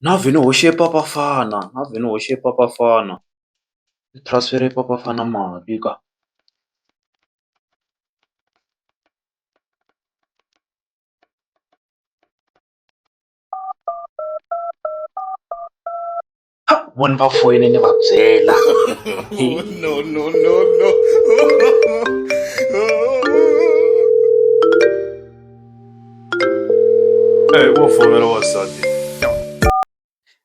Na vhele ni hoxe papafana na vhele ni hoxe papafana. Ni transfer-e papafana mali ka. Ha vo ni va foyini ni va byela. Eyi wo fonela wansati.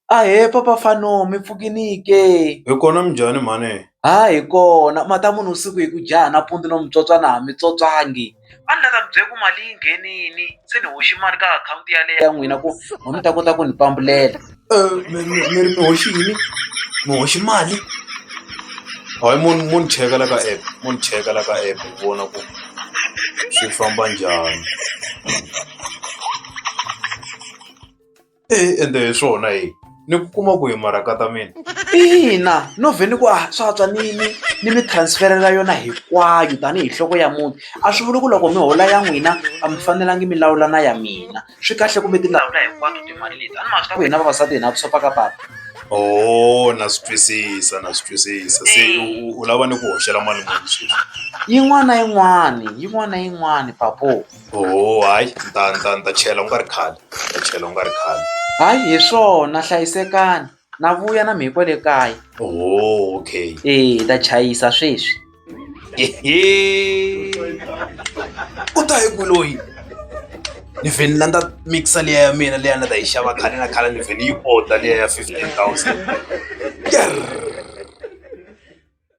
Ahee papa Fano mi pfukini ke? Hi kona minjhani mhani? Ha hi kona ma ta munhu vusiku hi ku dya nampundzu no mi tswotswa na ha mi tswotswangi a ni la ta mi byela ku mali yi nghenini se ni hoxi mali ka akhawunti yaleyo ya n'wina ku mi ta kota ku ni pambulela. mi mi mi ri mi hoxi yini mi hoxi mali hayi mo ni mo ni cheka la ka app mo ni cheka la ka app ni vona ku swi famba njhani e ende hi swona hi ni ku kuma ku hi maraka ta mina ina no vhe ni ku a swa tswa ni ni ni mi transferela yona hinkwayo tanihi nhloko ya muti a swi vuli ku loko mi hola ya n'wina a mi fanelangi mi lawula na ya mina swi kahle ku mi ti lawula hinkwato timali leti a ni ma swi ta ku hina vavasati hina vusopfa ka papa o na swi twisisa na swi twisisa se u- u lava ni ku hoxela mali muni sweswi yin'wana na yin'wani yin'wana na yin'wani papo o hayi ni ta ni ta ni ta chela u nga ri khale ni ta chela u nga ri khale hayi hi swona hlayisekani na vuya na mi hi kwale kaya oh, okay e hi ta chayisa sweswi u ta hi ku loyi ni vheni na ndza mixa liya ya mina leya na ta yi xava khale na khale ni vheni yi order liya ya fifteen thousand